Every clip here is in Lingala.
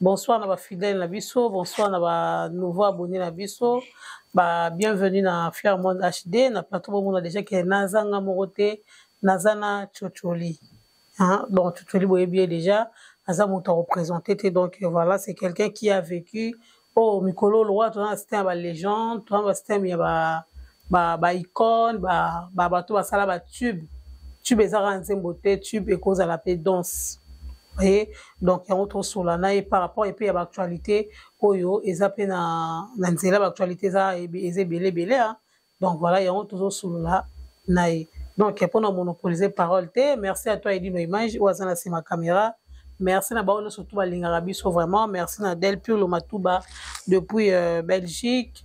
Bonsoir na ba fidèles na biso, bonsoir na ba nouveaux abonnés na biso. Ba bienvenue na Fier Monde HD na plateau bo mona déjà que nazanga moko te, nazana Chocholi. Hein? Donc Chocholi boye bien déjà, aza moto représenter te donc voilà, c'est quelqu'un qui a vécu oh mikolo loi tona système ba légende, tona ba système ya ba ba ba icone ba ba bato basala ba tube tube eza kaka nzembo te tube ekozala mpe danse oye donc yango tosola na ye par rapport epe ya baactualité oyo eza mpe na, na nzela baactualité eza eza ebele ebele a donc voilà yango tozosolola na ye donc mpo na monopolise parole te merci à toi edino image oyo aza na nsima caméra merci na bango nyonso tu balingaka biso vraiment merci na delpur lomatuba depuis euh, belgique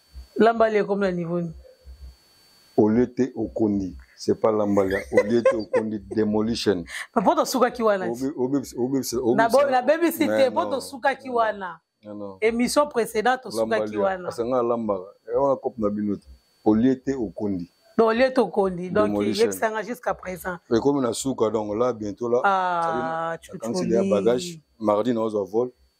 Lambali ekomi na niveau ni. Olie te okondi. C'est pas Lambali. Olie te okondi demolition. Papa poto suka ki wana. Obi obi obi obi. Na bo na baby cité poto suka ki wana. Non non. Émission précédente suka ki wana. Asanga Lambala. Et on a cop na binote. Olie te okondi. Donc olie te okondi. Donc il est sanga jusqu'à présent. Et comme na suka donc là bientôt là. Ah tu. Quand il y a bagage mardi na ozo vol.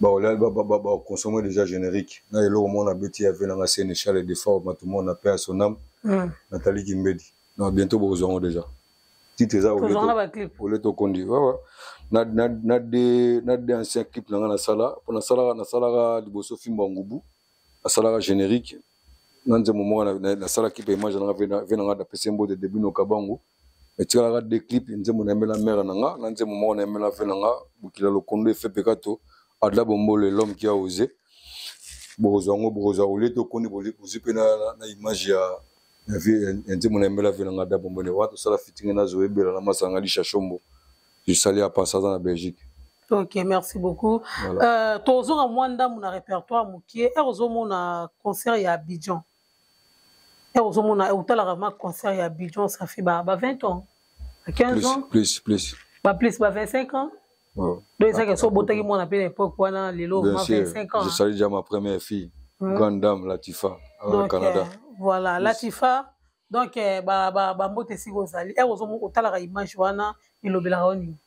ba consommer déjà générique na eloko mona beti ya vie na nga sénéchal et de fort matumona paix à son âme mm. Nathalie Kimbedi non bientôt bokozwa yango déjà titre eza ole tokondi wawa na de na de ancien clip na nga nasala mpo nasalaka nasalaka liboso fimbo ya ngubu nasalaka générique na nzembo moko nasala clip ya image na nga ve na nga dapese mbote debut nokabango etikalaka de clip nzembo nayembela mere na nga na nzembo moko nayembela ve na nga bokila lokondo efepekato adla bombolo elome kia ose bokozwa yango bokozwa olie te okoni bozwi mpe na image ya ya nzembo nayembela ve na nga adla bombolo wana tosala fitinge na zoe ebela na masanga lisha shombo esali ya pasa aza na belgique ok merci beaucoup voilà. euh, tozonga mwa ndambo na répertoire mokie ere ozomona concert ya abidjan Eh, ozomona eh, otalaka ma concert ya bidjon safi ba 20 ans ba 15 ans plus plus ba plus ba 25 ans oh. donc ezalaki so obotaki mwana mpe na époque wana lelo ma 25 ans je salue déjà ma première fille hmm. grande dame latifa ah, au canada eh, voilà latifa donc bambote esika ozali ere otalaka image wana elobelaka yo nini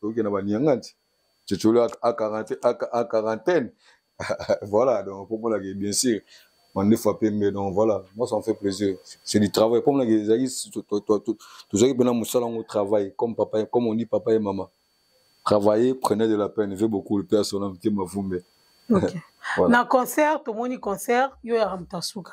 toke na banianganti cecolo a quarantaine voilà donc pomonake bien sûr mandefu apembe donc voilà moi ça me fait plaisir c'est du travail pomonake ezalaki tozalaki mpena mosala yango travail comme papa comme on dit papa et maman travailler prenez de la peine veut beaucoup le père sona motema vumbe okay. voilà. na concert tomoni concert yo ya ramtasuka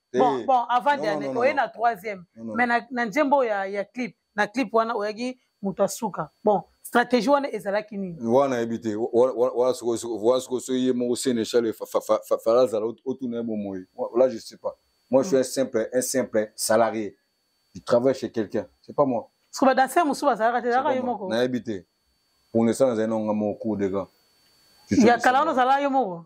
bon eh, bon avant dernier oye na troisième mais na, na nzembo oyo ya, ya clip na clip wana oyaki moto asuka bon stratégie wana ezalaki nini wana yebi te wana sikoyo soki ye moko sénéchal fala azala otuna ye bomoi là je sais pas moi je suis un simple un simple salarié je travaille chez quelqu'un c'est pas moi siko badanser mosusu bazalaka te ezalaka yo moko nayebi te pour l'instant nazali nango nga moko cour de gant ya kala wana ozalaka yo moko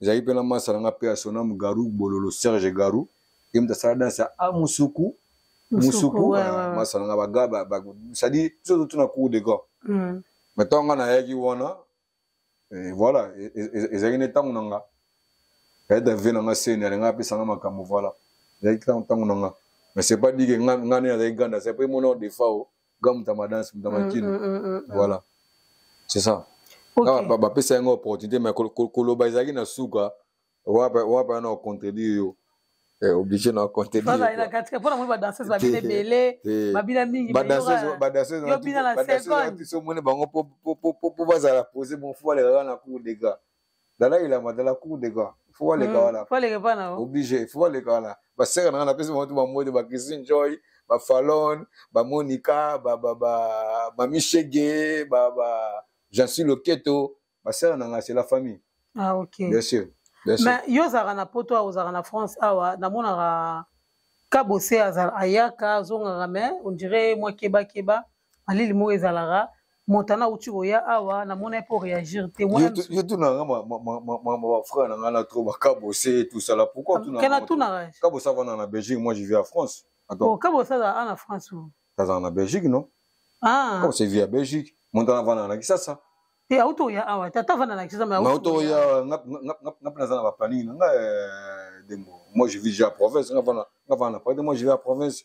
ezalaki mpe na masa na nga mpe ya sonam garou bololo serge garou ye moto asala danse ya amusuku ah, musuku ah, masa na nga bagaba cestadire biso totuna cour de grand hmm. mais ntango nga nayaki wana eh, voilà e, e, e, ezalaki nde ntango na nga ayeda vie na nga seni alinga apesa nga makambo voilà ezalaki ntango na nga mais c'est pas dit ke nga nde nazalaki grande ase mpe mona odefa o ga mutamba danse mutamba mm, kino mm, mm, mm, mm. voilà c'est ça okay. Ah, bapesa yango opportunité mais koloba ezalaki na suka wapa yana ocontredire yo eh, obligé na contredireyobina na seconde omoni bango po bazala pose bonfo balekaka na cour de gras dalai lama dala cour de grand fo baleka hmm, wana fo aleka pana oh. oblige fo baleka wana basere na nga napesi bango to bamode ba christine joy ba falon ba monica ba ba ba mami shege ba ba jean suis loketo basere na nga c'est la famille ah ok bien sûr bien sûr mais yo ozalaka na poto awa ozalaka na france awa namonaka kabose ayaka azongaka mais on dirait mwa kebakeba malili moko ezalaka montana auti koya awa namona ye mpo réagir te yo tunaka bafrère na ngai na trop bakabose tosala pourquoikabosa vanda na belgique moi je vis à france kabosa aza a na france azala na belgique non ah. kabosa vi ya belgique montana vanda na kisasa te auti oya awa te ata vanda na kisasa auti oya ngape naza na baplaning na ngai eh, dembo moi je vis ja province nga vanda na province moi je vis à province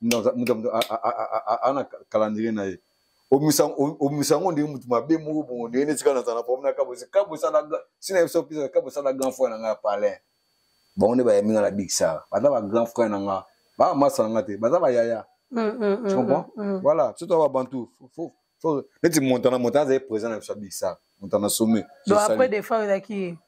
moto moto ana calendrier na ye omisa yango ndenge moto mabe moko bongo ndenge neti kaka nazala na problème na kabosi kabosala sina biso pesa kabosala grand frère na ngai ya palais bango nde bayambi ngai na big sar baza ba grand frère na ngai baa masa na ngai te baza bayaya mm, mm, mm, comprend voilà biso toa babantu neti montana montana azali présent na biso ya big sar montana sommet donc après defa ezalaki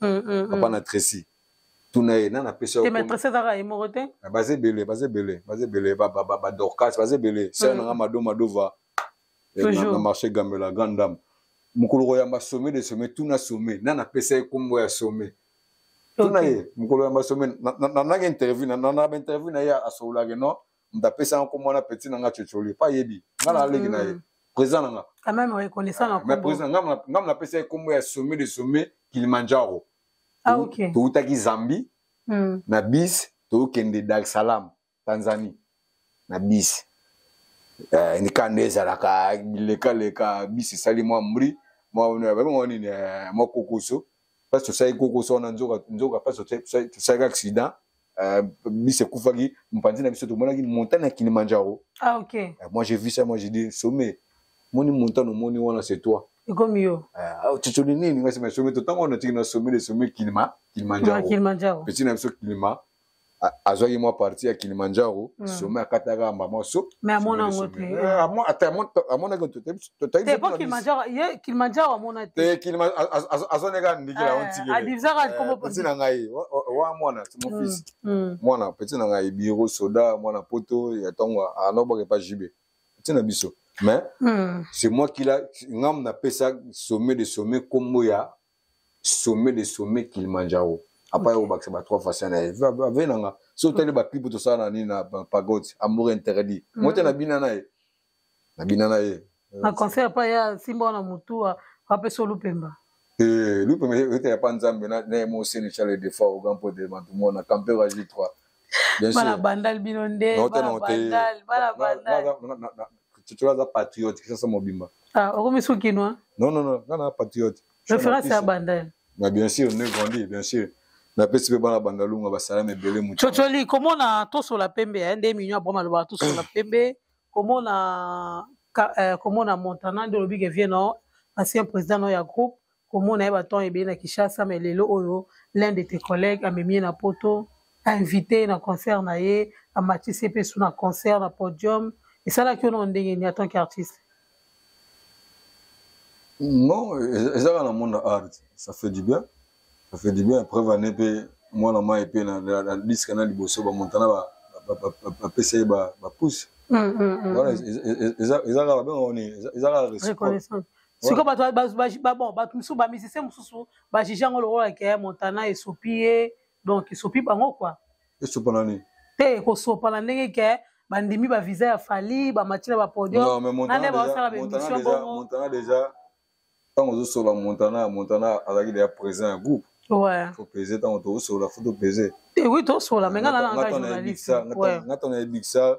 mm, mm, mm. papa na tracy tuna ye nani apesa ah, baza ebele baza ebele baza ebele badorcas baza ebele sere nanga mado madova eh, na marché gambela grande dame mokolo koyamba sommet de sommet tuna sommet nani apesa ye nkombo ya sommet tuna ye mokolo yamba sommet nananga interview nanaba interview na ye asololake non moto apesa nga nkombo wana peti na nga cocoli epa ayebi nga na leki na ye mm. président na nga quand même reconnaissant na mais président nga nga na pesa ye kombo ya sommet de sommet Kilimanjaro ah ok to utaki Zambie mm. na bis to kende Dar es Salaam Tanzanie na bis eh ni kande ezalaka bileka leka bis sali mwa mbri mwa mwa nini eh, mwa kokoso mpasi tosali kokosa wana nzoka mpasi tosalaki accident euh, bisi ekufaki mopanzi na biso tomonaki montagne ya kilimanjaro ah, okay. Euh, moi j'ai vu ça moi j'ai dit sommet moni montagne omoni wana c'est toi ekomi yo cocoli euh, ah, nini ngai sema sommet totango wana tiki na sommet de sommet kilima kilimanjaro pesi na biso kilima azwaki mwa parti ya kilimanjaro hmm. sommet akataka mbama so amonakilimanjaroazoneka ndikila ontikelapeti na ngai wa mwana timofisi hmm, hmm. mwana peti na ngai biro soda mwana poto ya ntongo anobaka epa jibe peti na biso mais c'est moi kila ngam napesa sommet de sommet nkombo ya sommet de sommet kilimanjaro apa yako bakisa ba trois façon na ye ave na nga so otali ba clip tosala na nini na pagode amour interdit mm. mote na bina na ye na bina na ye na concert pa ya simba wana motu apesa olupemba eh, lupemba ete ya pa nzambe na ye moseni charles defa ogampo de matumona campero agi 3 Bien sûr. Bana bandal bino nde. Non, bana bandal, bana bandal. Tutura za patriote kisa sa mobimba. Ah, okomi su kinois? Non, non, non, nana patriote. Référence ya bandal. Mais bien sûr, ne grandit, bien sûr. napesi mpe bana bandalunga basalami ebele moto cocoli komona tosola pembe eh, nde minio abrama alobaka tosola pembe komona eh, komona montana nde olobi ke vie no ancien président no ya groupe komona ye baton ebele na kinshasa mai lelo oyo l'un de tes collègues amemi ye na poto ainvite ye na concert na ye amatisi ye mpe su na concert na podium esalaki yo nao ndenge nini atant qu'artiste non ezaka na monde na art ça fait du bien ça fait du bien preuve ane mpe mwana mai mpe na diske na liboso bamontana bapesa ye bapousse wana eza kaka babenga oni eza kaka sikoyo bato bato mosusu bamisise mosusu bajije yango lokola ke montana esopi ye donc esopi bango kua esopana nini te kosopana ndenge ke bandimi bavisa ya fali bamati na bapodium nane baosala baémission bongo montana déjà ntango ozosolola montana montana azalaki deya président ya groupe topese ntango tokosolola fo topese oui tosolola me nga nana nga ntango nayebikisa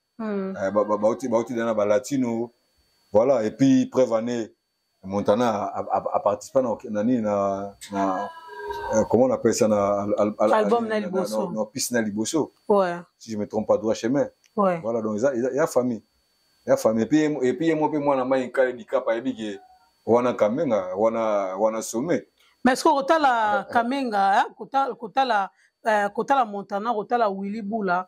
Hmm. Eh, bauti ba, ba, ba, na balatino voilà et puis preuve année montana aparticipa na nini na, na euh, comment on appelle ça na, al, al, album na liboso na, na, na piste na liboso ouais. si je me trompe pas droit chemin ouais. voilà donc il y a famille il y a famille et puis et puis moi pe moi na mai kale dikap ayebi ke wana kamenga wana wana sommet mais est-ce que kotala kamenga hein, kotala kotala euh, kotala montana kotala willy bula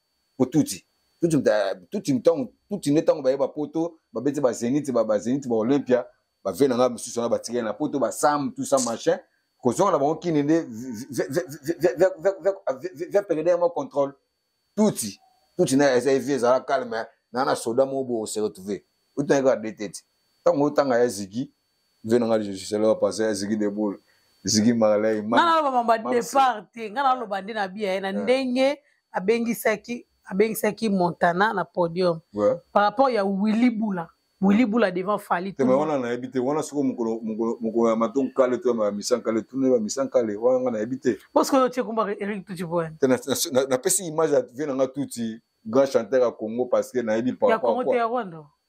po tuti tuti tuti ntango tuti nde ntango baye bapoto babeti bazeniti bazeniti ba olympia bave na ngai mosusu wana batikali na poto basam tout ça machin kozonga na bango kini nde via perede yango contrôle tuti tuti na eza evi ezala calme na na soda moko bo se retrouver otangi kaka de tete ntango otanga ya zigi vie na nga je suis là passer à zigi de boule zigi marley nga naloba mamba départ te nga naloba nde na bia ye na ndenge abengisaki abengisaki montana na podium par rapport ya willy bula willy bula devant fali te wana nayebi te wana soko mokolo mokolo mokolo ya matongo kale to ya misan kale tuna ya misan kale wana nga nayebi te parce que otie komba eric tuti boye te napesi image ya vie na nga tuti grand chanteur ya congo parce que nayebi par rapport ya congo te ya rwanda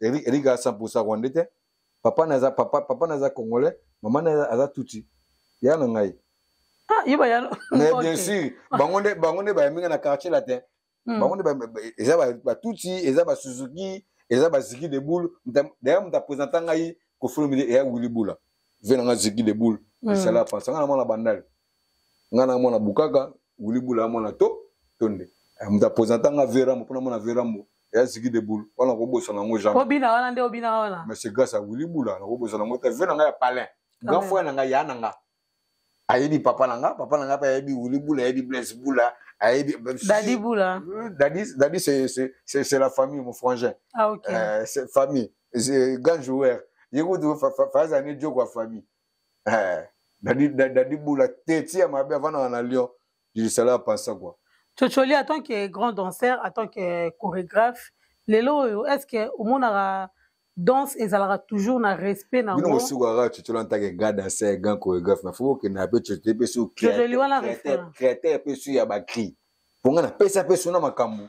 Eric Eric a 100% rwandais te. Papa naza papa papa naza congolais, maman naza aza tutsi. Ya na ngai. Ah, yeba ya. Mais bien sûr, bango nde bango nde ba minga na quartier latin. Hmm. Bango nde ba eza ba, ba tutsi, eza ba Suzuki, eza ba Ziki de boule. D'ailleurs, mta présenter ngai ko filmer ya Willy Bula. Venanga Ziki de boule. Hmm. Sala pa sanga na mwana bandal. nga na mwana bukaka wili bula ya mwana to tonde eh, moto apresenta nga verambo mpona mwana verambo ya zigi de boule wana nakobosana yango jamais obina wana nde obina wana mais c'est grâce à wili bula nakobosana yango te ve na nga ya palin grand frère na nga ya na nga ayebi papa na nga papa na nga mpe ayebi wili bula ayebi blaise bula ayebi dadi bula euh, dadi dadi c'est la famille mon frangin ah, okay. euh, famille grand joueur ye kutu fazani joko ya famille eh, dadi, dadi, dadi bula te tia mabe avandaka na lyon dilisala apansa kua cocoli en tant que grand danseur en tant que chorégraphe lelo oyo est ce que omonaka danse ezalaka toujours na respect na bino bosukaka cocoli en tant que grand danseur grand chorégraphe mais faut okenda mpe cocoli mpe su créateur mpe su ya bacri mpo ngai napesa mpe su na makambo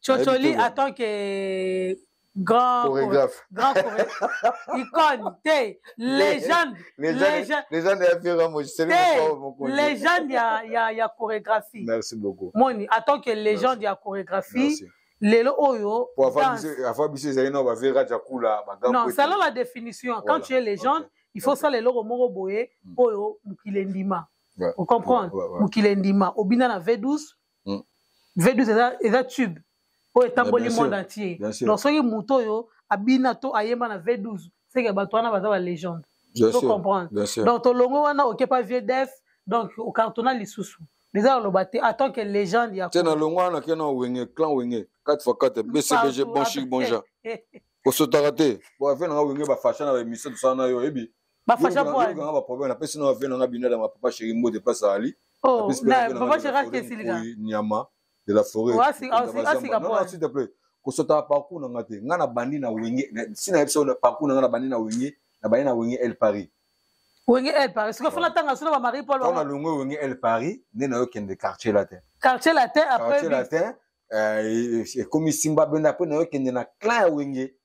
Chocholi en tant que grand chorégraphe grand chorégraphe icône te légende légende ya Pierre Moji c'est le légende ya ya ya chorégraphie merci beaucoup moni en tant que légende ya chorégraphie merci. lelo oyo afa biso ezali na bavera jakula non sala la définition quand tu es légende il faut sala eloko moko boye mm. oyo mokili endima ocomprendre mokili endima obina na v12 hmm. v12 eza, eza tube oyo etamboli monde entier donc soki moto oyo abina to ayemba na v12 seke bato wana baza balegende to comprendre donc tolongo wana okepa vieux def donc okartona lisusu eza aloba te en tant que légende ya te na longo wana kena wenge clan wenge 4 fois 4 bcbg bon chic bon genre osotaka te boave nanga wenge bafasha na baémission tosala na yo oyebi Ba fasha boy. Yo kanga ba problème na pesi na vena na bino na papa chéri mbo de passe ali. Oh, na papa chéri a kesi lika. Nyama de la forêt. Wasi asi asi ka boy. S'il te plaît. Kosota parcours na ngate. Nga na bandi na wenge. Si na episode na parcours na nga na bandi na wenge. Na bandi na wenge El Paris. Wenge El Paris. Sika fona tanga sona ba Marie Paul. Tanga longo wenge El Paris. Ne na yo kende quartier latin. Quartier latin après. Quartier latin. Euh, ekomi simba benda après na yo kende na clan ya wenge.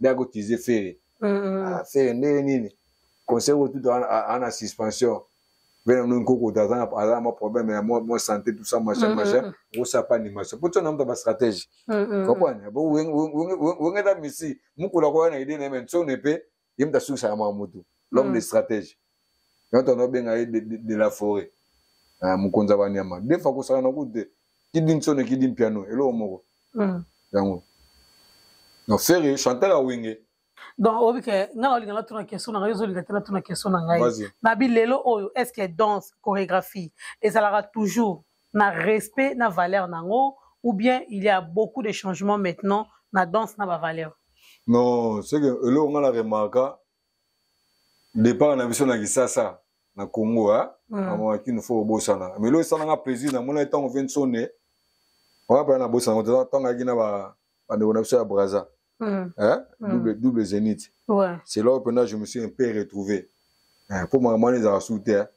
nde akotize fere ah, fere ndenge nini conseil otuta ana suspension vena no nkoko aza na mwa problème ya mwa santé tout ça machin machin okosala pa animation mpo tia na moto ba stratégie comprendre wengeta misi mokolo akoya na idée na ye me nsone mpe ye moto asukisaka mwa motu l'homme de stratégie na to no benga ye de, de, de la forêt ah mukonza ba nyama des fois ko sala na kute ki din sone ki din piano elo moko mm. yango no ferre chanteur a wenge donc oyebi ke ngai naolinga natuna question na ngai ozolinga te natuna question na ngai nabi lelo oyo est ce que danse chorégraphie ezalaka toujours na respect na valeur na yango ou bien il y a beaucoup de changements maintenant na danse na bavaleur non ce que eloko ngai na remarka départ na biso na kisasa na congo a amonaki no fo obosana mais lo esalanga plaisir namonaki ntango ve nsone wana mpena nabosana ngo teza ntango ayaki na bandeko na biso ya braza hmm. hmm. double zenith c'est là mpena je me suis un peu retrouvé mpo eh, makambo wana ezalaka su te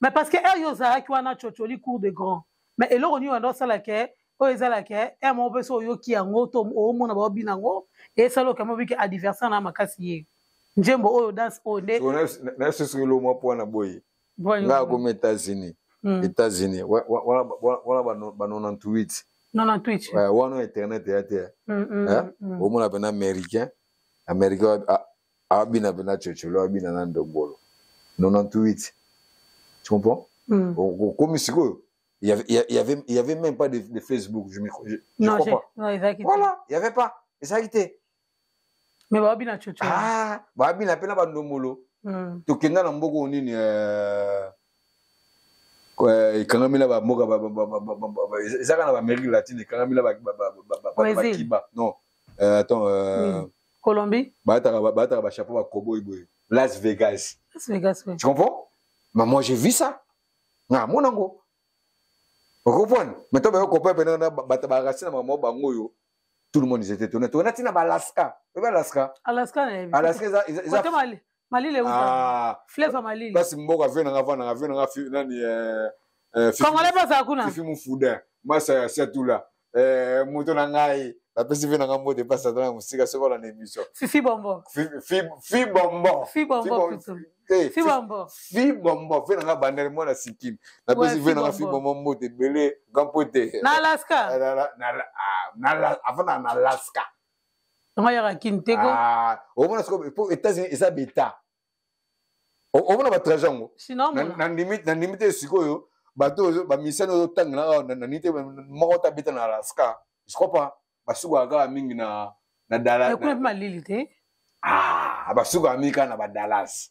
mais parce que heure yo ozalaki wana cocoli cour de grand mais eloko nini wanda osala ke oyo ezala ke heure moko mpe so oyoki yango to omona baobi na yango esala okama obi ke adversaire na makasi ye nzembo oyo danse oyo nde nasusuki lo mwa mpo na boye nga akomi états-unis hmm. états-unis wana ba 98 98 wana internet eya te hmm, hmm, eh? omona mpena américain américain abina mpe na cocolo abina na ndombolo 98 tu comprends mm. okomi sikoyo il y avait, il y avait, il y avait même pas de, de Facebook je, me, je, je non, crois pas non, exactement. voilà il y avait pas ezalaki te mais babina coco ah babina mpe na bandombolo mm. tokenda na mboka oyo nini euh, euh, ekangami na bamboka ezaka na baamérique latine ekangami na bakiba non euh, attends euh, oui. Colombie. Bataka bataka ba chapeau ba cowboy boy. Las Vegas. Las Vegas oui. Tu comprends? Mais moi j'ai vu ça. Na mon ango. Vous comprenez? Mais toi ba copain pena na bata ba racine ma mo bango yo. Tout le monde ils étaient étonnés. Toi na tina ba Alaska. Tu vois Alaska? Alaska. Alaska ils ils. Côté Mali. malili euta ah. fleuve ya malili place mboka vie na nga vandaka vie na nga nani eh, eh, congolais bazala kuna fifi mufuda masa ya siatula eh, moto na ngai napesi vie na nga mbote place ata na mosika soki olanda émission fifi bombo fi bombo fi bombo fi bombo fi bombo vie na nga bandele mwana sikini napesi vie na nga fi bombo mbote ebele gampote na alaska ah, na alaska yango yaka kini te ko ah, omona siko po états-unis eza beta omona batraje yango nandimi te sikoyo bato bamisani oyo otangela awa nani te moko ta beta na alaska je crois pas basukaka kaka mingi na na dallas kuna mpe malili te ah basukaka mingi kaka na badalas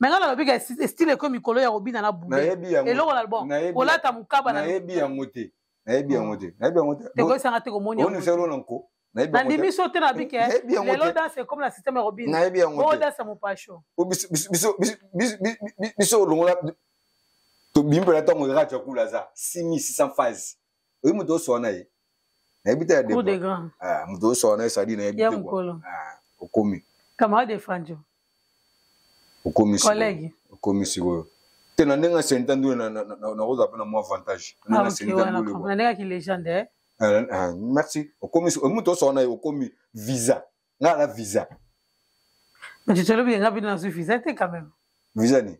me nga nalobi ka estile ekomi mikolo ya kobina na bueloko na bon kolata mokaba nayebi yango te nayebi yango te nayebi yango te ekoyesanga te komoni oniselo na nko nandimi so te na bike lelo danse ekomi na systeme ya kobina nayebi yango te danse mopasho biso olongola tobimi mpela ntango rati ya kula aza 6600 phase oyi moto osoa na ye nayebi te ya ah, moto osoa na ye sadi nayebi te ah, okomi camarade de franjo okomi collègue okomi sikoyo te na ndenge asenta ndu nakozala mpe na mwa avantage nandengaki ah, legende eh? ah, merci okomi moto osoa na ye okomi visa ngai na visa tolobi nga bino nazwi visa te quand même visa nini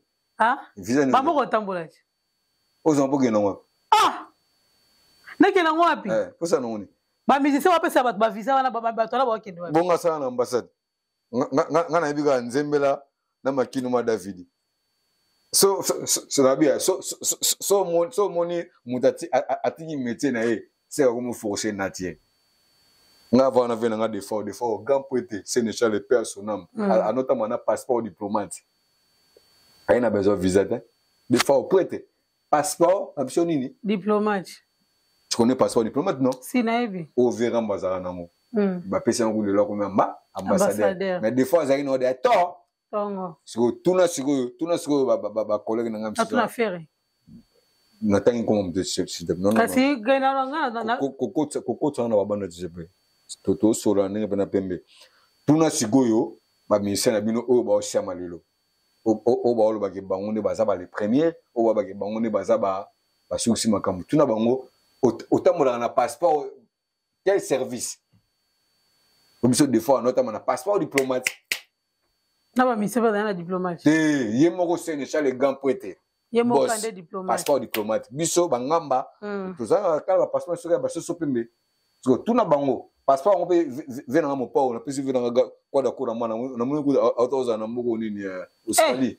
visa nini bamoko otambolaki ozwa mpo okenda wapi ah nakenda ngo wapi eh, posa nango nini bamusicien bapesa bato bavisa wana bato wana bakende wapi bongo asala na ambassade nga nayebi kaka nzembela na makinu ma davidi so nabia so omoni moto atiki métier na ye seka komoforce nati ye nga ava wana ve na nga defaut defaut grand mpo ete senechal epe asonam anotama na passeport diplomate aye na besoin visa te de fao prete passeport na biso nini diplomate tu connais passeport diplomate non si nayebi overa mbo azalaka nango hmm. bapesi yango lelo akomi amba ambassadeur mais de fois azalaki na ode ya tor sikoyo tuna sikoyo tuna sikoyo bacollege na ngai misusu natangi nkoma moto kokotana na babanda tisepe tosola ndenge mpe na pembe tuna sikoyo baministère na bino oyo baosiama lelo oyo baolobaki bango nde baza bale première oyo babaki bango nde baza basukisi makambo tuna bango otambolaka na passeport quel service po biso de fois anotama na passeport diplomatique na bamisie bazali na diplomate te ye moko senegal le grand prêtre ye moko ande diplomate passeport diplomate biso bangamba mm. tozalaka kala bapasseport soki ya basoso pembe siko tuna bango passeport yango mpe ve nanga mopao napesi ve nanga kwada kura mwana namoni kuta ozala na mboko nini eh, eh. australie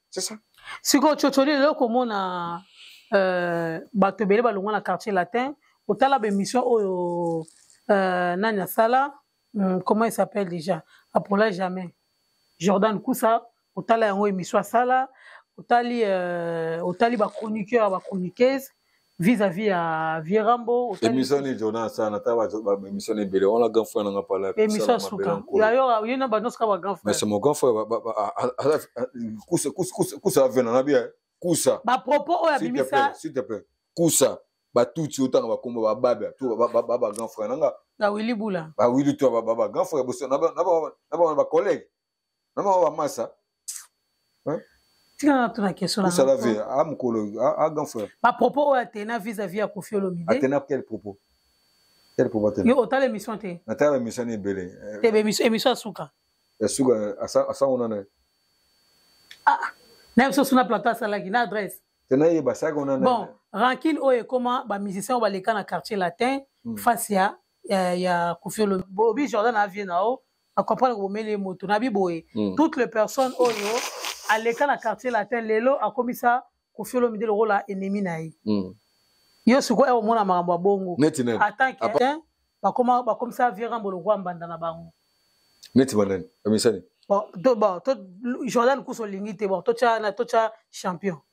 c'est ça sikoyo cocoli lelo komona euh, bato ebele balongwa na quartier latin otala baémission oyo euh, nani asala hmm, comment il s'appelle déjà apola jamais jordan kusa otala yango émission asala otali euh, otali bachroniqueur bachroniqueuse vis à vis ya vieux rambo émission ni jonas sana ata ba émission ni bele on la grand frère nga pala émission suka ya yo yo na ba noska ba grand frère mais c'est mon grand frère kusa kusa kusa kusa vena na bien kusa ba propos oyo abimisa s'il te plaît kusa ba tuti otanga ba kombo ba baba to ba ba ba grand frère nga na wili bula ba wili to ba ba grand frère boso na ba na ba na ba collègue na mawa ba masa hein tika na tuna question na sala vie a mukolo a grand frère ba propos oyo atena vis à vis ya Koffi Olomide atena quel propos quel propos atena yo otala émission te na tala émission ni belé te be émission émission asuka ya suka asa asa ona na ah na biso suna plateau asalaki na adresse tena ye basaka ona na bon rancune oyo ekoma ba musiciens oyo baleka na quartier latin hmm. face ya ya Koffi Olomide bolobi Jordan avie na o na comprendre ko bomeli moto na bi boye mm. toutes les personnes oyo aleka na quartier latin lelo akomisa kofiolo mide lokola ennemi na ye mm. yo sikoyo omona makambo ya bongo atant que bakoma bakomisa virambo lokola mbanda na bango neti banani bamisani bon to bon to Jordan kuso lingi te bon to cha na to cha champion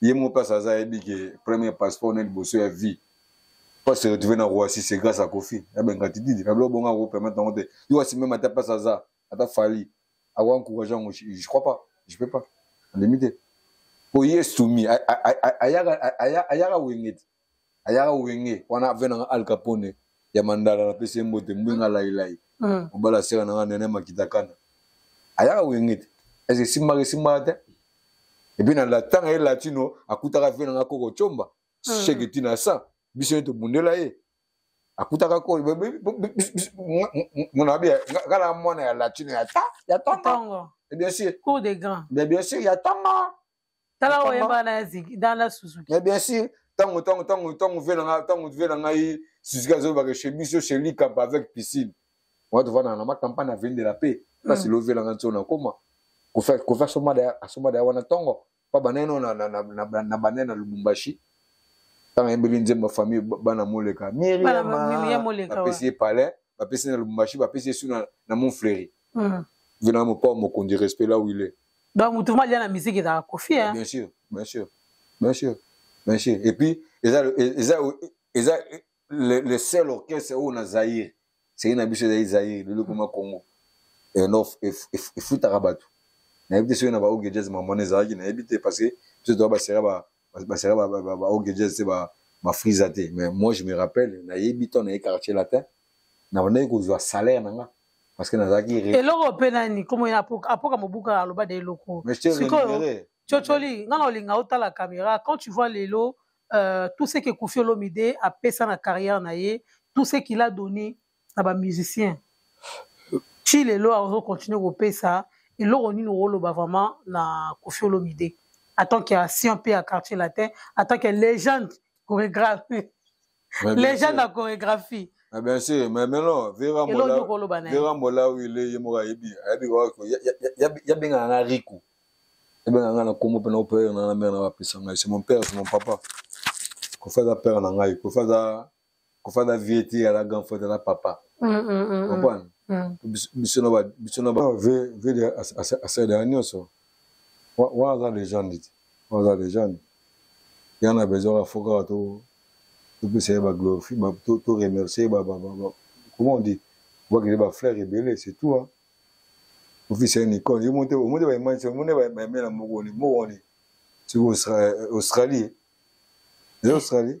ye moko place aza ayebi ke premier passeport na liboso ya vie pas se retrouver na roissy c'est grâce à kofi na bengatididi na biloko bongo ako permettre yango te yo asi meme ata place aza ata fali ako encourage yango je crois pas je peux pas andimi te po ye soumis ayaka wenge te ayaka wenge wana ve nanga al capone ya mandala napesi ye mbote mbwenga lailai hmm. mobala mm. sera nanga nene makitakana ayaka wenge te ese esimbaka esimbaka te epuis na latanga ye latino akutaka ve nanga koko comba mm. sheke tina sa biso ye tobundela ye akutaka ko mona bia ngala mwana ya latino ya ta ya tongo bien sûr cour des grands bien sûr ya tongo tala oyo yemba na ziki dans la Suzuki mais bien sûr tango tango tango tango vie na nga tango vie na ngai Suzuki azo ba chez biso chez Lika avec piscine on va te voir na ma campagne à vendre la paix parce que l'ovie na nga ntona koma ko faire ko faire soma da soma da wana tongo pa baneno na na na na banena Lubumbashi ntango ayembeli nzembo ya famille bana moleka miriamapesi ye palais bapesi na lubumbashi bapesi ye su na mont fleuri hmm. venaa mopao mokonzi respect la wile donc motu ma lia na miziki ezalaka kofi hein? bien sûr bien sûr bien sûr bien sûr et puis eza eza eza le, le seul orchestre oyo na zaire seki na biso ezali zaire lelo ekoma congo efutaka bato nayebi te soki na baoge jazz mamwana ezalaki nayebi te parce que biso toa basera basaka baogejes te bafrisa te mais moi je me rappelle nayebi to naye quartier latin nabandaki kozwa salaire na nga parce que nazalaki eloko mpe nani komo apoka mobuka aloba de eloko sikoyo cocoli nga na olinga otala caméra quand tu vois lelo euh, tout ce que kofi olomide apesa na carrière na ye tout ce qu'il a donné na ba musiciens ti lelo azo continuer kopesa eloko nini okoloba vraiment na kofi olomide en tant que ancien mpe ya quartier latin en tant que légende chorégraphie légende ya chorégraphie Ah bien sûr, mais maintenant, Vera Mola, Vera Mola, oui, il est mort à Ebi. Ebi, il y a bien un rico. Il y a bien un combo pendant le père, il y a bien un père, c'est mon père, c'est mon papa. Qu'on fasse un père, on a un père, qu'on fasse un kofa na vie te ala grand frère na papa comprendre biso na biso na ba ve ve de asala ya nyonso wana aza legende te wana aza legende yana na besoin ya foka to topesa ye ba glorifie to remercier ba ba comment on dit obakende ba fleur ebele c'est tout hein ofisi ya nicole yo mote omoni baimage omoni baimela moko ni moko ni siko australie eza australie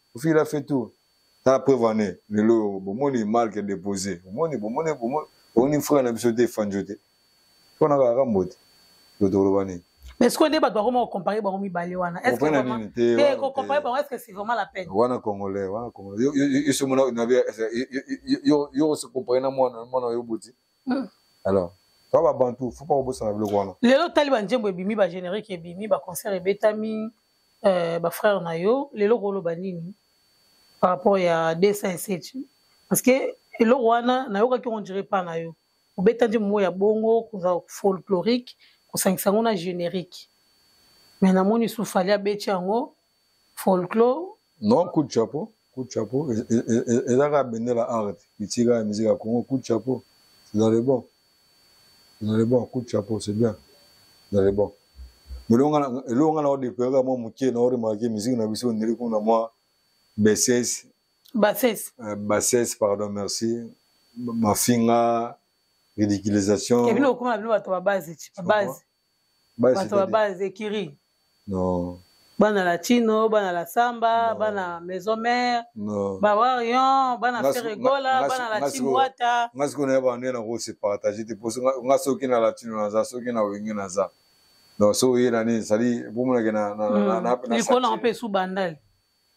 Kofi la fait tout. Ta preuve en est lelo bomoni marque déposé. Bomoni bomoni bomoni bomoni frère na biso te fanjo te. Pona ka rambo te. Totoloba nini? mais sikoyo nde bato bakoma kocompare bango mibale wana kocompare bango estce c'est vraiment la peine wana congolais wana congolais yo se compare na mwana mwana oyo boti hmm. alors to babantu fo mpo kobosana biloko wana lelo otali banzembo ebimi bagénérique ebimi baconcert ebetami euh, bafrère na yo lelo koloba nini par rapport ya 207 parce que eloko wana nayokaki yango dire pa na yo obeta nzembo moko ya bongo koza folklorique kosangisa yango na générique mais namoni sufali abeti yango folklore non coup de chapeau coup de chapeau eza kaka bendela art bitika ya musique ya congo coup de chapeau c'est dans le bon c'est dans le bon coup de chapeau c'est bien c'est dans le bon mais eloko nga na odepere kaka mwa moke na oremarke musique na biso ondeli kuna mwa bassesse bassesse euh, bassesse pardon merci mafinga ridiculisation ebino okoma bino bato babase babase bato baba les écuries non bana la chino bana la samba non. bana maison mère non. bawarion bana feregola bana la chimwata nga sikoyo naye bande nako se partage te po nga soki na latino naza soki na wenge naza donc so oye na nini sali bomonake nalikolo na mpe esu bandali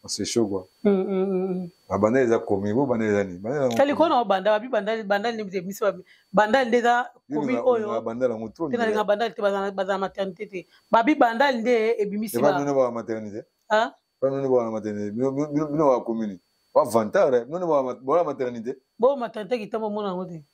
oseshogwa mm, mm, mm, babandali eza komi bo bandali eza nini bandali kona obanda babi bandali bandali nde bite biso babi bandali nde eza komi oyo bandali yango trop te nalinga bandali te bazala maternité te babi bandali nde ebimisi ba bino ba maternité ah bino ba maternité bino ba commune ba vantard bino ba maternité bo maternité kitambo mona ngo te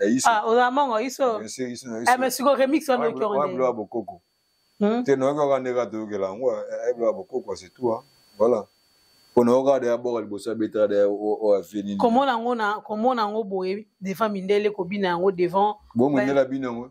ya iso ah oza mongo iso iso iso eh mais siko remix wana oyoki yango nde wa bokoko hmm? te noyoki kaka nde kaka toyokela yango ayebla wa bokoko c'est tout hein voilà pona yo kaka deya boka liboso abetaka deya oyo afie nini komona yango na komona yango boye devant mindele kobina yango devant bo mindele abina yango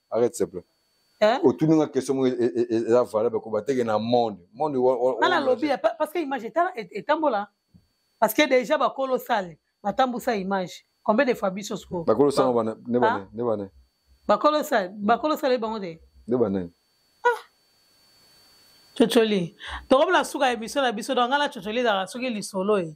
arrête s'il te plaît Hein? otuni nga question moko e- e- e- eza valable ko bateke na monde monde wa- wa- nga wa- nalobi ya- pa- parce que image eta- et- etambola parce que déjà bakolo sale batambusa image combien de fois biso siko bakolo sango bana ne bana Ah. ne bana bakolo sale bakolo sale bango te ne bana cocoli tokomi na suka ya emission na biso donc nga na cocoli ezalaka soki lisolo e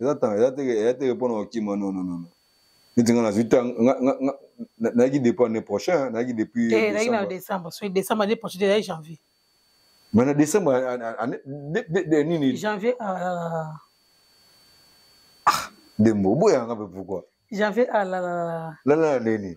eza ntango eza te eza te mpo na kokima non non non neti nga nazwi ta nayaki depuis année prochain nayaki depuis eh, nayaki na décembre soki décembre année prochaine ezali janvier mais na décembre nini janvier ah, ah, dembo oboyanga mpe pourquoi janvier alalala ah, lala nini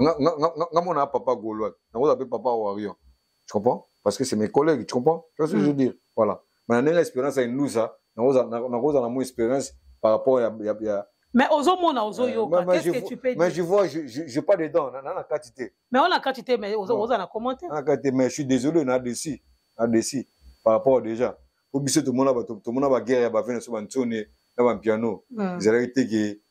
nga nga nga nga mona papa golois nakoza pe papa warrior tu comprends parce que c'est mes collègues tu comprends tu vois ce que je veux mm. dire voilà mais na ndenge expérience ya inlusa nakoza nakoza na mo expérience par rapport ya ya, ya mais ozomona ozoyoka euh, qu'est-ce que tu peux dire mais je vois je je, je pas dedans na na kati te mais on a kati te mais ozo oza na commentaire na kati mais je suis désolé na dessus na dessus par rapport déjà po biso tomona bato tomona baguerre ya bavene so bantsone na bampiano mm. ezalaki te ke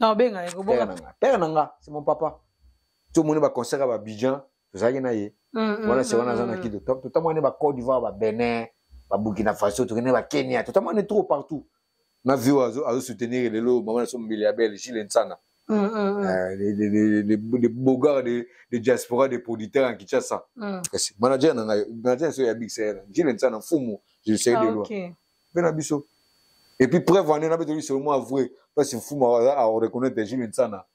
na obenga ye kobonga na nga père na nga c'est mon papa to moni ba concert ba Abidjan tozalaki na ye mm, mm, wana se wana aza na mm, kido to to moni ba Côte d'Ivoire ba Benin ba Burkina Faso to kene ba Kenya to moni trop partout na vie azo azo soutenir lelo maman so mbili ya belle Gilles Nsana Mm, mm, euh, les, les, les, les, les beaux gars de, de diaspora des producteurs en Kinshasa mm. manager na ngai manager so ya Big Sahel Gilles Nsana Fumu je le sais ah, de loin okay. mpe na biso et puis preuve wana nabe toyebi seulement avoué parce mfumu a reconnaître jules nsana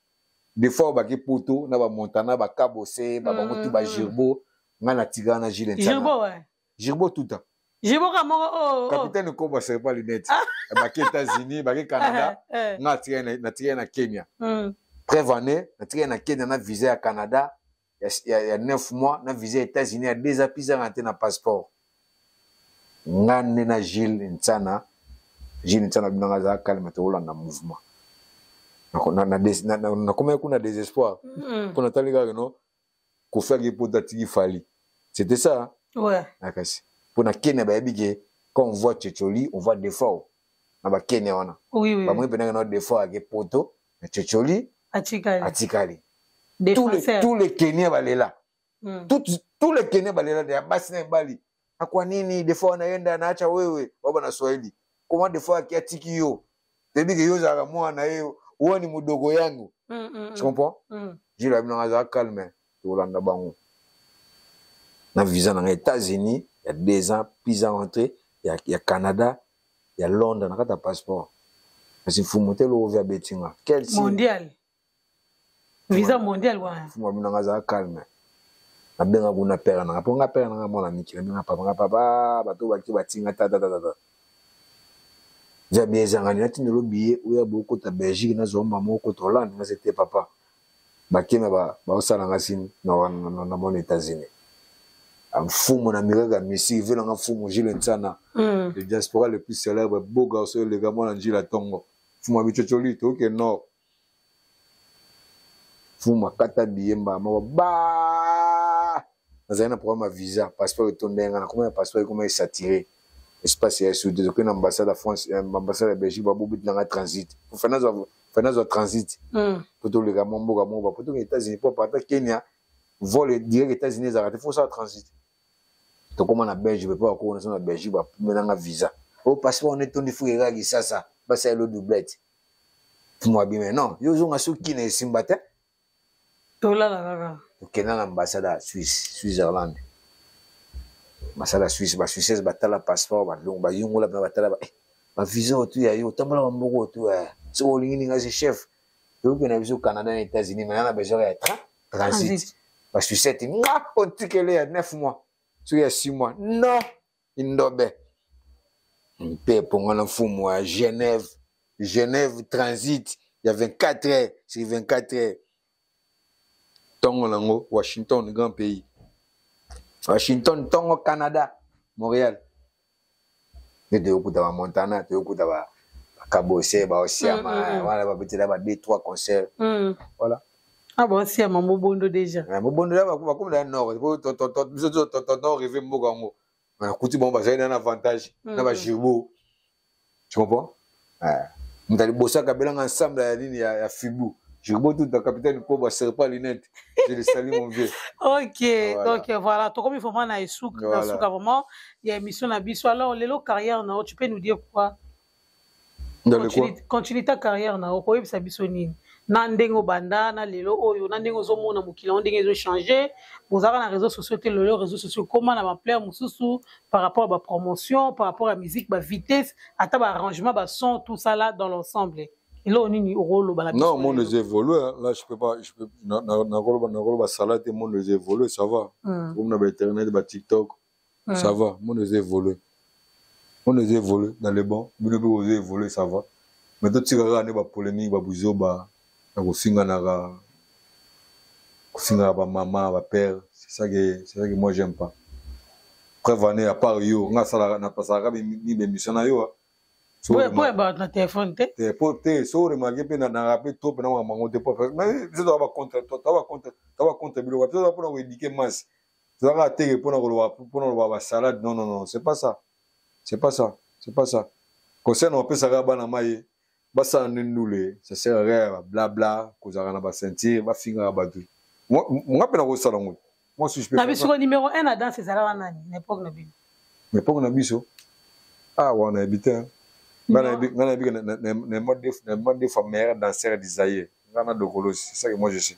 des fois obaki poto na bamontana bakabose babango tu bagirbo ngai natikala na jules nsana girbo tuta jiboka moko oyo oh, oh, oh. capitaine kobo asali mpa lunette ah. baki états-unis baki canada eh, eh. nga natikali na kenya hmm. preuve année natikali na kenya na visa ya canada ya, ya, ya 9 mois na visa ya états-unis ya 2 ans pizanga te na passeport nga nde na gile nsana gile nsana bino nga azala kalme tokolanda mouvement nakomaki kuna désespoir mm. mpo natali kaka no kofi ake mpo tatiki fali c'était ça nakasi mpo na kenya bayebi ke quand on voit cecoli on voit defao na bakenya wana bamoni mpenaka na defao ake poto mais cocoli atikali atikali tous les tous les kenya balela mm. tout tous les kenya balela ya basi na ebali akwa nini des fois anayenda anaacha wewe baba na swahili comment des fois akiatiki yo toyebi ke yo ozalaka mwana ye wani modogo yango mm, mm, mm. tu comprends mm. jilo abino azalaka calme tolanda bango na visa na ngai états-unis ya deux ans plus à rentré ya, ya canada ya londres na kati ya passeport kasi mfumu te lokovi abeti nga quel mondial visa mondial wana mfumu abino nga azala calme nabenga kuna pere nanga mpo nga pere nanga mwana miki nabenga papa nga papa bato baki batinga tatatatata via biezangani natindelo biye oya bokota belgique nazwa mama okota hollande nga se te papa bakena baosala nga sini na mona états-unis ah, mfumu na miracle ya misiki vela nga mfumu jile nsana mm. le diaspora le plus célèbre beau garçon eleka mwana njila tongo mfumu ya bicocoli toyoke nord mfumu akata biye mbala moko ba nazali na programme ya visa passeport etonda yanga nakoma ya passeport ekoma esatire espace ya sud ezokende na ambassade ya france eh, ambassade ya belgique babobeti nanga transit fana azwa transit hmm. po toleka mwa mboka moko bapo tokende états-unis po aparta kenya vol direct états-unis ezalaka te fo osala transit tokóma na belge pe po bakoko naso na belgique bapumelanga visa o oh, passeport wana etondi fuka ekaka kisasa basala elo doublette fumwa bima non yo ozonga soki na esimba te tolala kaka okenda na ambassade ya suisse switzerland masala suisse ba suisses batala passeport balongo bayungola mpe batala ba eh, visa otu ya yo otambolaka mboko otu eh. soki olingi ninga se chef toyoki na biso canada na états-unis mana na besoin ya train transit ba suissete nga ontikele ya 9 mois soki ya 6 mois non Indobe. Mpe pongana mfumu wa Genève, Genève transit ya 24 heures sur 24 heures. Tongo nango Washington grand pays. Washington tongo Canada, Montréal. Nde toyokuta ba Montana, toyokuta ba kabose ba osiama mm, mm, mm. wana babetela ba deux trois concert mm. voilà Ah bon, si à Mambo Bondo déjà. Ah, Mambo Bondo là, va comme dans le nord. Biso to to to to to rêver mboka ngo. Mais kuti bon bazali na avantage mm. na ba jirbo. Tu comprends? Ah. Mtali bossa kabela ensemble ya ligne ya, ya Fibu. Jirbo tout ta capitaine ko ba serre pas lunette. Je le salue mon vieux. OK, voilà. donc euh, voilà, to comme vraiment na esuk voilà. na suka vraiment. Il y a émission na biso. Alors lelo carrière na tu peux nous dire quoi? quand tu ta carrière na yo koyebisa biso nini na ndenge obanda na lelo oyo na ndenge ozomona mokili yango ndenge ezochange bozalaka na réseau sociaux te lelo réseau sociaux ekoma na baplaire mosusu par rapport ya bapromotion par rapport ya musique bavitesse ata baarrangement bason tout ça là dans l'ensemble eloko nini okoloba na non monde eza évolue là je peux pas je peux nakoloba nakoloba sala te monde eza évolue ça va comme hmm. na bainternet batiktok Mm. Ça va, mon eza évolué. Mon eza évolué dans le bon, bino pe oza évolué, ça va. Mais to tika kaka ne ba polémique ba buzoba na kofinga na ka kofinga ba maman, ba père, c'est ça que c'est ça que moi j'aime pas. Preuve année à part yo, nga sala na pasaka bi ni be mission na yo. So ouais, ouais, ba na téléphone te. Te po te so remarquer pe na na rappeler trop pe na mango te po. Mais c'est toi ba contre toi, toi ba contre, toi ba contre bilo, toi pour na éduquer masse. toza kaka teke mpona koloba mpona koloba basalade non non non c'est pas ça c'est pas ça c'est pas ça conseil na opesaka bana maye basala nde ndule ça sert à rien ba blabla kozalaka na ba ceinture bafingaka bato nga mpe nakosala ngo moi si je peux na biso ko numéro 1 na danse ezalaka nani na époque na bino na époque na biso ah wana yebi te nga nayebi ke na mode de fa meilleur danseur du zaire nga na dokolosi c'est ça que moi je sais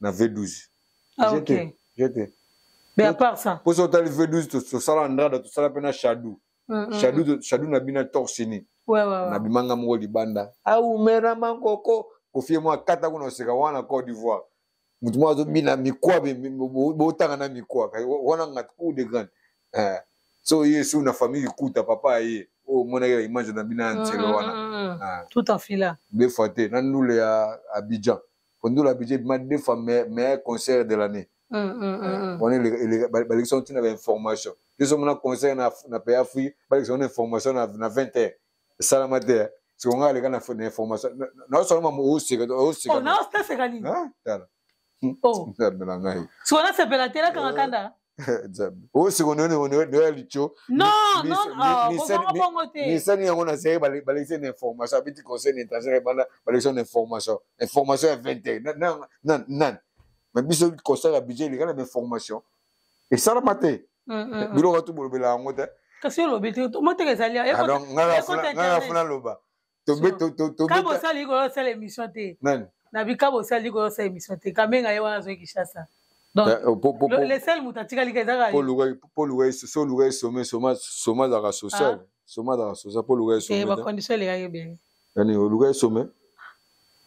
na V12. Ah, ok. J'étais. Mais à part ça. Pour ça, tu as le V12, tu as la Andrada, tu as la peine Shadou. Shadou, Shadou n'a bien torsiné. Ouais, ouais, ouais. N'a bien manga mougo libanda. Ah, ou mera mankoko. Kofi moi, kata kuna oseka wana Côte d'Ivoire. Mutu moi, mina mikwa, botanga na mikwa. Wana ngat coup de grande. Eh. So, yé, sou na famille kuta, papa yé. Oh, mon aïe, image na bina, ntelo wana. Tout en fila. Befoite, na noule à Abidjan. Pondola budget bima deux fois meilleur concert de l'année. wana balekisa ntina ba information biso mona concert na paya fui balekisa wana information na 20 heure esalama te siko ngai aleka na information naosala mama osekanaoseka nini tala siko nasepela te nakanga kanda oyo sikoyo noya lico misani yango na sere balekisi na information abeti conseil na étranger ebanda balekisi na information information ya 21 nani ma biso constat ya budget elekana na information esalama te mm, mm, mm. biloko tu bolobela yango te kasi olobi te omoteka ezali ah, ngai nafuna loba kabo osala likolo osala émission te na bikabo osala likolo osala émission te kamenga ye wana azwaki shasa lesel moto atikali ka ezaka so oluka ye some soma azalaka social soma azalaka social mpo oluka ye somebacondition elekaki ebele yani oluka ye some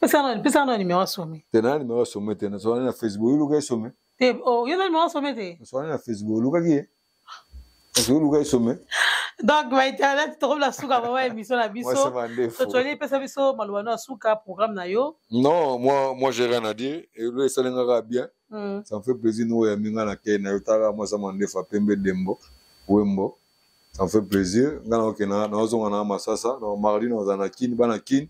pesaka na numero ya some te na numero ya some te nasolani na facebook oluka ye some te yo na numero ya some te nasolani na facebook olukaki ye ozwi luka esome donc ba internet tokomi na suka mama émission na biso totoli epesa biso maloba no ya suka programme na yo non moi moi j'ai rien à dire elo esali nga kaka bien hmm. ça me fait plaisir no oyambi nga na kei na yo tala moi sama ndefa pembe dembo wembo ça me fait plaisir nga naokenda naozonga na masasa na mardi naoza na kini bana kini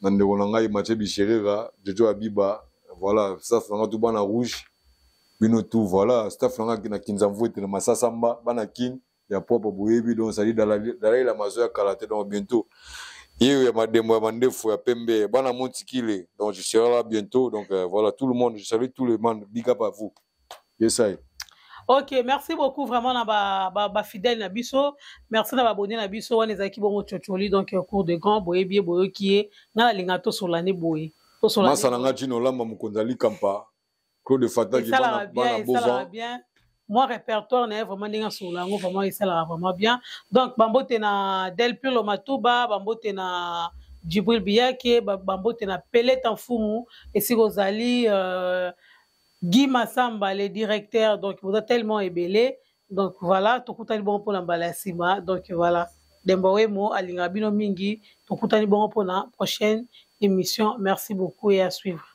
na ndeko na ngai Mathieu Bicherera, Jojo Abiba, voilà, staff na ngai tout bana rouge, bino tout, voilà, staff na ngai na Kinzamvuete, na Masasamba, bana Kin, ya propre boyebi, donc ça dit Dalai, Dalai Lama zo ya kala te, donc bientôt. Yeyo ya madembo ya mandefu ya pembe, bana Montikile, donc je serai là bientôt, donc euh, voilà, tout le monde, je salue tout le monde, big up à vous. yesai ok merci beaucoup vraiment na bafidèle ba, ba na biso merci na babone na biso wana ezalaki bongo cocoli donc euh, cours de grand boyebi ye boyoki ye ngai nalinga tosola nde boye masa na ngai ntino olamba mokonzi alikampa claude fataki bana bovan mwa répertoire na ye vraiment ndenge asolola yango vraiment esalaka vraiment bien donc bambote na del pirlo matuba bambote na jibril biyake bambote na peleta mfumu esika ozali euh, Guy Massamba, le directeur, donc vous êtes tellement ébélé. Donc voilà, tokutani bongo pona mbala sima. Donc voilà, Demba Wemo alinga bino mingi, tokutani bongo pona prochaine émission. Merci beaucoup et à suivre.